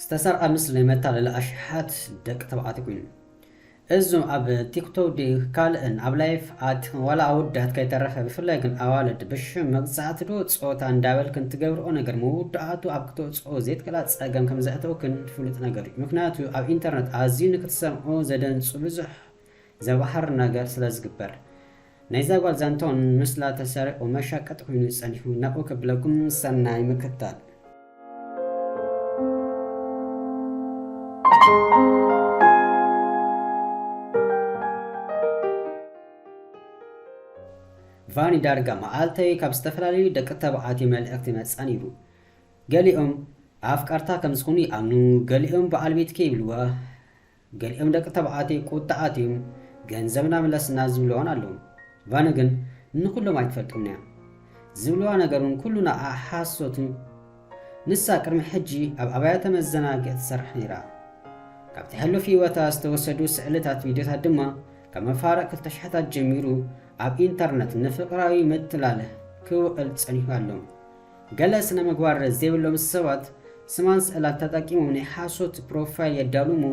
ዝተሰርቐ ምስሊ መታለሊ ኣሽሓት ደቂ ተባዕትዮ ኮይኑ እዞም ኣብ ቲክቶክ ድዩ ካልእን ኣብ ላይፍ ኣትኹም ዋላ ኣወዳት ከይተረፈ ብፍላይ ግን ኣዋልድ ብሽም መግዛእቲ ዶ ፆታ እንዳበልክን ትገብርኦ ነገር መወዳእቱ ኣብ ክተውፅኦ ዘይትክእላ ፀገም ከም ዘእተውክን ፍሉጥ ነገር እዩ ምክንያቱ ኣብ ኢንተርነት ኣዝዩ ንክትሰምዑ ዘደንፁ ብዙሕ ዘባህር ነገር ስለ ዝግበር ናይዛ ጓል ዛንትኡ ምስላ ተሰሪቑ መሻቀጢ ኮይኑ ጸኒሑ ናብኡ ከብለኩም ሰናይ ምክታል። ቫኒ ዳርጋ መዓልተይ ካብ ዝተፈላለዩ ደቂ ተባዓትዮ መልእኽቲ ይመጽኣ ነይሩ ገሊኦም ኣፍቀርታ ከም ዝኹኑ ይኣምኑ ገሊኦም በዓል ቤትኪ ይብልዋ ገሊኦም ደቂ ተባዕትዮ ቁጥዕ ኣትዩም ገንዘብና ምለስና ዝብልዋን ኣለዉ። ቫነ ግን ንኹሎም ኣይትፈልጦምን'ያ። ዝብልዋ ነገር'ውን ኩሉ ንዓኣ ሓሶት'ዩ። ንሳ ቅድሚ ሕጂ ኣብ ኣብያተ መዘናግዒ ትሰርሕ ነይራ። ካብቲ ሕሉፍ ህይወታ ዝተወሰዱ ስእልታት ቪድዮታት ድማ ካብ መፋርቕ ክልተ ሽሕታት ጀሚሩ ኣብ ኢንተርነት ንፍቕራዊ ምትላል ክውዕል ጸኒሑ ኣሎ። ገለ ስነ-ምግባር ዘይብሎም ሰባት ስማን ስእላን ተጠቂሞም ናይ ሓሶት ፕሮፋይል የዳልዉ እሞ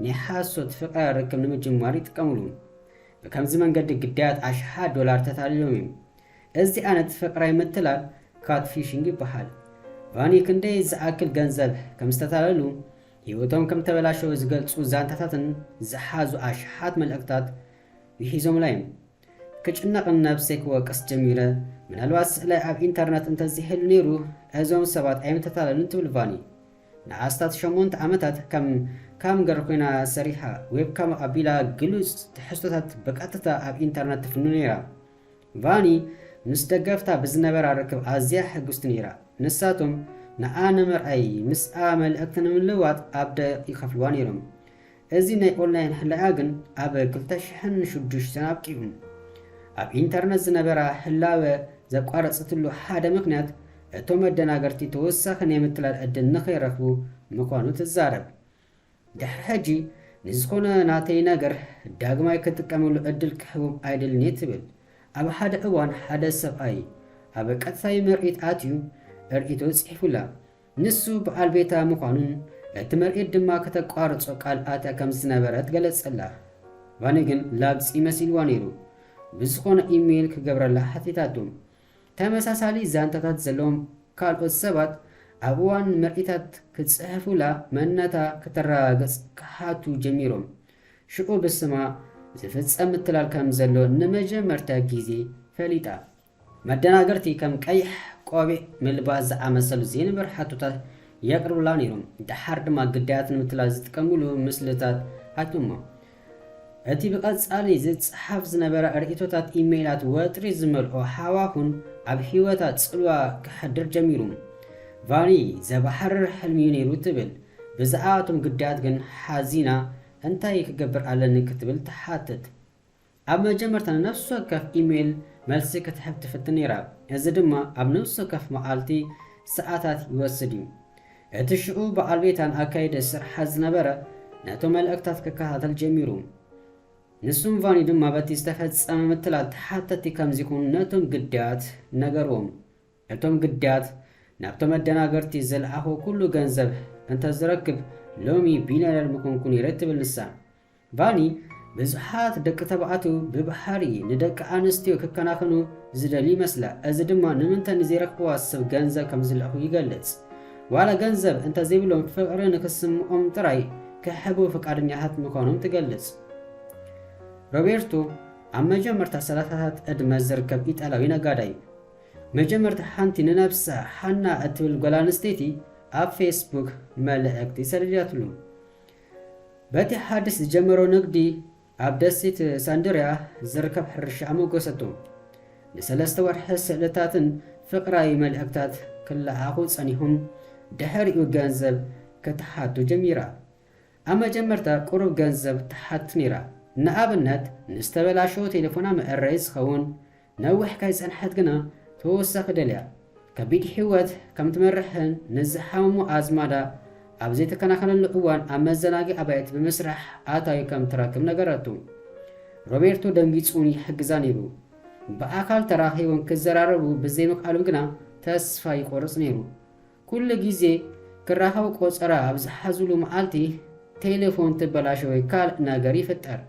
ናይ ሓሶት ፍቕረ ርክብ ንምጅማር ይጥቀምሉ። ብከምዚ መንገዲ ግዳያት ኣሽሓት ዶላር ተታሊሎም እዮም። እዚ ዓይነት ፍቕራይ ምትላል ካትፊሽንግ ይበሃል። ቫኒ ክንደይ ዝኣክል ገንዘብ ከም ዝተታለሉ፣ ህይወቶም ከም ተበላሸወ ዝገልጹ ዛንታታትን ዝሓዙ ኣሽሓት መልእኽታት ውሒዞምላ እዮም። ክጭነቕን ነብሰይ ክወቅስ ጀሚረ። ምናልባት ስእላይ ኣብ ኢንተርነት እንተዘይህሉ ነይሩ እዞም ሰባት ኣይምተታለሉን ትብል ቫኒ። ንኣስታት ሸሞንተ ዓመታት ከም ካምገር ኮይና ሰሪሓ፣ ዌብካም ኣቢላ ግሉጽ ትሕዝቶታት ብቐጥታ ኣብ ኢንተርነት ትፍኑ ነይራ። ቫኒ ምስ ደገፍታ ብዝነበራ ርክብ ኣዝያ ሕጉስቲ ነይራ፣ ንሳቶም ንኣ ንምርኣይ ምስኣ መልእኽቲ ንምልውዋጥ ኣብ ደቂቕ ይኸፍልዋ ነይሮም። እዚ ናይ ኦንላይን ሕለያ ግን ኣብ ክልተ ሽሕን ሽዱሽተን ኣብቂዑ። ኣብ ኢንተርነት ዝነበራ ህላወ ዘቋረጸትሉ ሓደ ምኽንያት እቶም መደናገርቲ ተወሳኺ ናይ ምትላል ዕድል ንኸይረኽቡ ምዃኑ ትዛረብ። ድሕሪ ሕጂ ንዝኾነ ናተይ ነገር ዳግማይ ክጥቀመሉ ዕድል ክህቦም ኣይደልን'የ ትብል። ኣብ ሓደ እዋን ሓደ ሰብኣይ ኣብ ቀጥታዊ ምርኢት ኣትዩ ርእይቶ ጽሒፉላ። ንሱ ብኣልቤታ ምዃኑን እቲ ምርኢት ድማ ከተቋርጾ ቃል ኣትያ ከም ዝነበረት ገለጸላ። ቫኒ ግን ላግጺ መሲልዋ ነይሩ። ብዝዀነ ኢመይል ክገብረላ ሓቲታቶ። ተመሳሳሊ ዛንታታት ዘለዎም ካልኦት ሰባት ኣብ እዋን ምርኢታት ክጽሕፉላ መንነታ ከተረጋግጽ ክሓቱ ጀሚሮም። ሽዑ ብስማ ዝፍጸም ምትላል ከም ዘሎ ንመጀመርታ ግዜ ፈሊጣ። መደናገርቲ ከም ቀይሕ ቆቢዕ ምልባስ ዝኣመሰሉ ዘይንበር ሕቶታት የቅርቡላ ነይሮም። ደሓር ድማ ግዳያት ንምትላል ዝጥቀምሉ ምስልታት ኣትዩ'ሞ እቲ ብቀጻሊ ዝጸሓፍ ዝነበረ ርእይቶታት ኢመይላት ወጥሪ ዝመልኦ ሃዋሁን ኣብ ህይወታ ጽልዋ ከሕድር ጀሚሩ። ቫኒ ዘባህርር ሕልሚ'ዩ ነይሩ ትብል። ብዛዕባ እቶም ግዳያት ግን ሓዚና እንታይ ክገብር ኣለኒ ክትብል ትሓትት። ኣብ መጀመርታ ንነፍሲ ወከፍ ኢሜይል መልሲ ክትሕብ ትፍትን ነይራ፣ እዚ ድማ ኣብ ነፍሲ ወከፍ መዓልቲ ሰዓታት ይወስድ እዩ። እቲ ሽዑ በዓል ቤታ ንኣካይዲ ስርሓት ዝነበረ ነቶም መልእኽታት ክከታተል ጀሚሩ። ንሱን ቫኒ ድማ በቲ ዝተፈጸመ ምትላል ተሓተቲ ከም ዚኹኑ ነቶም ግዳያት ነገርዎም። እቶም ግዳያት ናብቶም ኣደናገርቲ ዝልኣኾ ኩሉ ገንዘብ እንተ ዝረክብ ሎሚ ቢልዮነር ምኾንኩ ነይረ ትብል ንሳ። ቫኒ ብዙሓት ደቂ ተባዕትዩ ብባህሪ ንደቂ ኣንስትዮ ክከናኸኑ ዝደልዩ ይመስላ፣ እዚ ድማ ንምንተ ንዘይረኽብዋ ሰብ ገንዘብ ከም ዝልእኹ ይገልጽ። ዋላ ገንዘብ እንተ ዘይብሎም ፍቕሪ ንኽስምኦም ጥራይ ክሕቡ ፍቃደኛታት ምዃኖም ትገልጽ። ሮቤርቶ ኣብ መጀመርታ ሰላሳታት ዕድመ ዝርከብ ኢጣልያዊ ነጋዳይ'ዩ። መጀመርታ ሓንቲ ንነብሳ ሓና እትብል ጓል ኣንስተይቲ ኣብ ፌስቡክ መልእኽቲ ሰዲዳትሉ። በቲ ሓድሽ ዝጀመሮ ንግዲ ኣብ ደሴት ሳንድርያ ዝርከብ ሕርሻ ኣመጎሰቶ። ንሰለስተ ወርሒ ስእልታትን ፍቕራዊ መልእኽታት ክለኣኹ ጸኒሑም ድሕሪኡ ገንዘብ ክትሓቱ ጀሚራ። ኣብ መጀመርታ ቁሩብ ገንዘብ ትሓት ነይራ፣ ንኣብነት ንዝተበላሸወ ቴሌፎና መእረዪ ዝኸውን ነዊሕ ከይጸንሐት ግና ተወሳኺ ደልያ ከቢድ ህይወት ከም ትመርሕን ምስ ዝሓመሙ ኣዝማዳ ኣብ ዘይተከናኸነሉ እዋን ኣብ መዘናግዒ ኣባይቲ ብምስራሕ ኣታዊ ከም ትረክብ ነገረቱ። ሮቤርቶ ደንጊጹን ይሕግዛ ነይሩ። ብኣካል ተራኺቦም ክዘራረቡ ብዘይምኽኣሎም ግና ተስፋ ይቖርጽ ነይሩ። ኩሉ ግዜ ክራኸቡ ቆጸራ ኣብ ዝሓዙሉ መዓልቲ ቴለፎን ትበላሾ ወይ ካልእ ነገር ይፍጠር።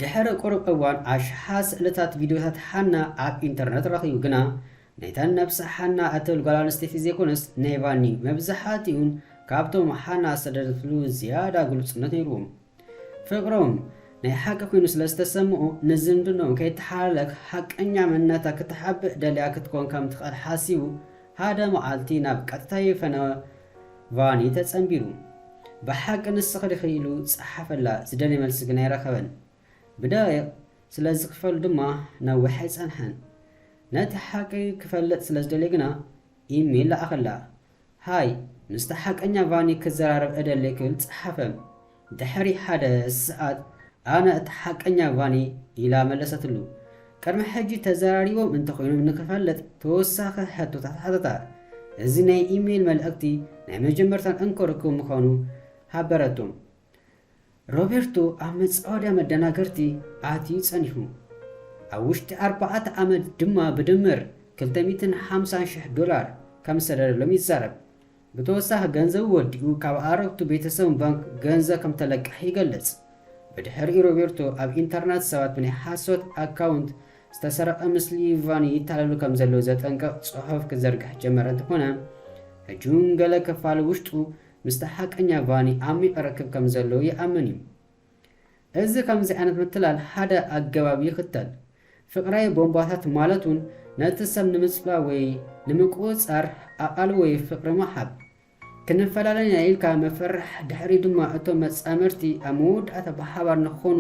ድሕሪ ቁሩብ እዋን ኣሽሓት ስእልታት ቪድዮታት ሓና ኣብ ኢንተርነት ረኺቡ ግና ናይታ ነብሳ ሓና እትብል ጓል ኣንስተይቲ ዘይኮነስ ናይ ቫኒ መብዝሓቲኡን ካብቶም ሓና ዝሰደደትሉ ዝያዳ ግሉጽነት ነይሩዎ ፍቅሮም ናይ ሓቂ ኮይኑ ስለ ዝተሰምኦ ንዝምድንኦም ከይተሓላለክ ሓቀኛ መንነታ ክትሓብእ ደልያ ክትኮን ከም ትኽእል ሓሲቡ ሃደ መዓልቲ ናብ ቀጥታይ ፈነወ ቫኒ ተጸንቢሩ። ብሓቂ ንስኺ ዲኺ ኢሉ ጸሓፈላ፣ ዝደልዮ መልሲ ግን ኣይረኸበን። ብደቒቕ ስለ ዝኽፈሉ ድማ ነዊሕ ኣይጸንሐን። ነቲ ሓቂ ክፈልጥ ስለ ዝደልየ ግና ኢሜል ለኣኸላ። ሃይ፣ ምስታ ሓቀኛ ቫኒ ክዘራረብ እደሊ ክብል ጸሓፈ። ድሕሪ ሓደ ሰዓት ኣነ እታ ሓቀኛ ቫኒ ኢላ መለሰትሉ። ቅድሚ ሕጂ ተዘራሪቦም እንተኾይኖም ንኽፈልጥ ተወሳኺ ሕቶታት ሓተታ። እዚ ናይ ኢሜይል መልእኽቲ ናይ መጀመርታን እንኮ ርክቡ ምዃኑ ሃበረቶ። ሮቤርቶ ኣብ መጻወድያ መደናገርቲ ኣትዩ ጸኒሑ። ኣብ ውሽጢ ኣርባዕተ ዓመት ድማ ብድምር ክልተ ሚእትን ሓምሳን ሽሕ ዶላር ከም ዝሰደደሎም ይዛረብ። ብተወሳኺ ገንዘቡ ወዲኡ ካብ ኣረግቱ ቤተሰቡን ባንክ ገንዘ ከምተለቀሐ ይገልጽ። ብድሕሪኡ ሮቤርቶ ኣብ ኢንተርናት ሰባት ብናይ ሓሶት ኣካውንት ዝተሰረቐ ምስሊ ቫኒ ይታለሉ ከምዘለዉ ዘጠንቅቕ ጽሑፍ ክዘርግሕ ጀመረ እንተኾነ ሕጂውን ገለ ክፋል ውሽጡ ምስታ ሓቀኛ ቫኒ ዓሚቕ ርክብ ከምዘለዎ ይኣምን እዩ። እዚ ከምዚ ዓይነት ምትላል ሓደ ኣገባብ ይኽተል። ፍቕራዊ ቦምባታት ማለት ውን ነቲ ሰብ ንምጽላው ወይ ንምቁጽጻር ኣቓልቦ ወይ ፍቕሪ ምሃብ። ክንፈላለ ኢና ኢልካ ምፍርራሕ ድሕሪኡ ድማ እቶም መጻምድቲ ኣብ መወዳእታ ብሓባር ንክኾኑ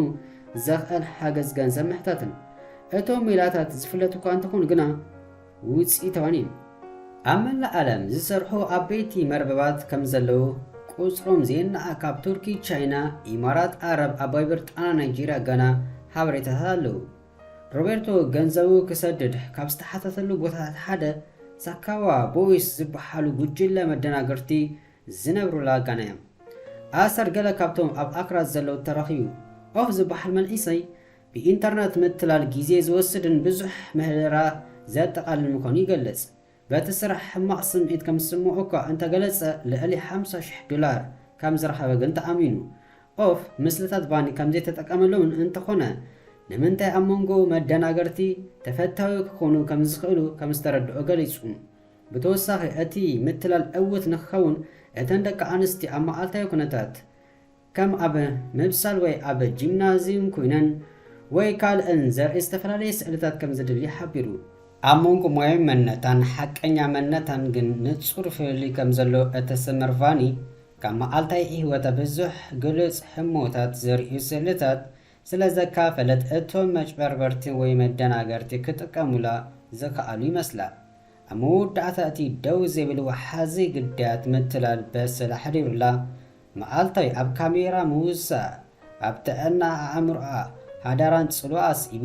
ዘኽእል ሓገዝ ገንዘብ ምሕታትን። እቶም ሜላታት ዝፍለጡ'ኳ እንተኾኑ ግና፣ ውፅኢታውን እዩ። ኣብ መላእ ኣለም ዝሰርሑ ኣበይቲ መርበባት ከምዘለው ቁፅሮም ዘይናኣእ ካብ ቱርኪ ቻይና ኢማራት ኣረብ ኣባይ ብርጣና ናይጀርያ ጋና ሓበሬታታት ኣለው። ሮቤርቶ ገንዘቡ ክሰድድ ካብ ዝተሓተተሉ ቦታታት ሓደ ሳካዋ ቦይስ ዝብሓሉ ጉጅለ መደናገርቲ ዝነብሩላ ጋና እዮም። ኣሰር ገለ ካብቶም ኣብ ኣክራ ዘለው ተረኪቡ ኦህ ዝብሓል መንዒሰይ ብኢንተርነት ምትላል ግዜ ዝወስድን ብዙሕ ምህደራ ዘጠቓልልን ምዃኑ ይገልጽ። በቲ ስራሕ ሕማቕ ስምዒት ከም ዝስምዖ እኳ እንተ ገለጸ፣ ልዕሊ ሓምሳ ሽሕ ዶላር ከም ዝረኸበ ግን ተኣሚኑ። ኦፍ ምስልታት ቫኒ ከም ዘይተጠቀመሎምን እንተዀነ ንምንታይ ኣብ መንጎ መደናገርቲ ተፈታዊ ክዀኑ ከም ዝኽእሉ ከም ዝተረድኦ ገሊጹ። ብተወሳኺ እቲ ምትላል ዕዉት ንኽኸውን እተን ደቂ ኣንስትዮ ኣብ መዓልታዊ ኵነታት ከም ኣብ ምብሳል ወይ ኣብ ጂምናዝዩም ኩይነን ወይ ካልእን ዘርኢ ዝተፈላለየ ስእልታት ከም ዝድሊ ሓቢሩ። ኣብ መንጎ ሞያዊ መንነታን ሓቀኛ መንነታን ግን ንጹር ፍልልይ ከም ዘሎ እትስምር ቫኒ፣ ካብ መዓልታዊ ህይወታ ብዙሕ ግሉጽ ህሞታት ዘርእዩ ስእልታት ስለ ዘካፈለት እቶም መጭበርበርቲ ወይ መደናገርቲ ክጥቀሙላ ዝኸኣሉ ይመስላ። ኣብ መወዳእታ እቲ ደው ዘይብል ወሓዚ ግዳያት ምትላል በሰላ ሓዲሩላ መዓልታይ ኣብ ካሜራ ምውሳእ ኣብ ጥዕና ኣእምሮኣ ሓዳራን ጽልዋ ኣስዒቡ፣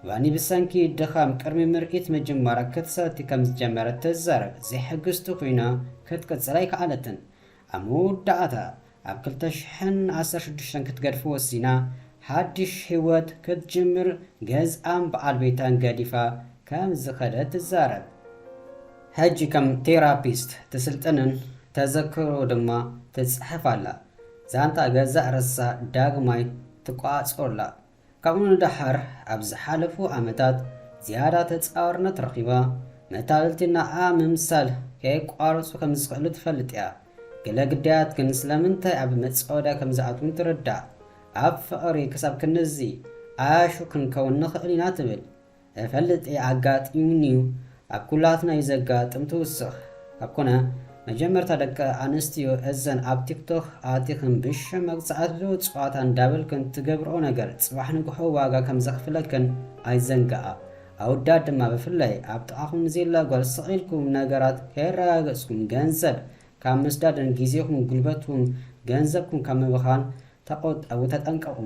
ቫኒ ብሰንኪ ድኻም ቅድሚ ምርኢት ምጅማራ ክትሰቲ ከም ዝጀመረት ትዛረብ፣ ዘይሕግዝቲ ኮይና ክትቅጽል ኣይከኣለትን። ኣብ መወዳእታ ኣብ ክልተ ሽሕን ዓሰርተ ሽዱሽተን ክትገድፎ ወሲና፣ ሓድሽ ህይወት ክትጅምር ገዝኣን በዓል ቤታን ገዲፋ ከም ዝኸደት ትዛረብ። ሕጂ ከም ቴራፒስት ትስልጥንን ተዘክሮ ድማ ትጽሕፍ ኣላ። ዛንታ ገዛእ ርእሳ ዳግማይ ትቆጻጸሮ ኣላ። ካብኡ ንደሓር ኣብ ዝሓለፉ ዓመታት ዝያዳ ተጻዋርነት ረኺባ፣ መታለልቲ ንዓኣ ምምሳል ከየቋረጹ ከም ዝኽእሉ ትፈልጥ እያ። ገለ ግዳያት ግን ስለምንታይ ኣብ መጻወድያ ከም ዝኣትዉን ትርዳእ። ኣብ ፍቕሪ ክሳብ ክንድዚ ዓያሹ ክንከውን ንኽእል ኢና ትብል። እፈልጥ እየ ኣጋጢሙኒ እዩ ኣብ ኩላትና እዩ ዘጋጥም ትውስኽ ኣብ ኮነ መጀመርታ ደቂ ኣንስትዮ እዘን ኣብ ቲክቶክ ኣቲኽን ብሽም መግጻእትሉ ጽዋታ እንዳበልክን ትገብርኦ ነገር ጽባሕ ንግሆ ዋጋ ከም ዘኽፍለክን ኣይዘንግኣ ኣውዳት ድማ ብፍላይ ኣብ ጥቓኹም ንዘላ ጓል ስቕ ኢልኩም ነገራት ከየረጋገጽኩም ገንዘብ ካብ ምስዳድን ግዜኹም ጉልበትኩም ገንዘብኩም ካብ ምብኻን ተቆጠቡ ተጠንቀቁ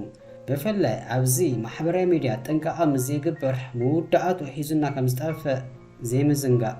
ብፍላይ ኣብዚ ማሕበራዊ ሚድያ ጥንቃቀ ምስ ዘይግበር መወዳኣትኡ ሒዙና ከም ዝጠፍእ ዘይምዝንጋእ።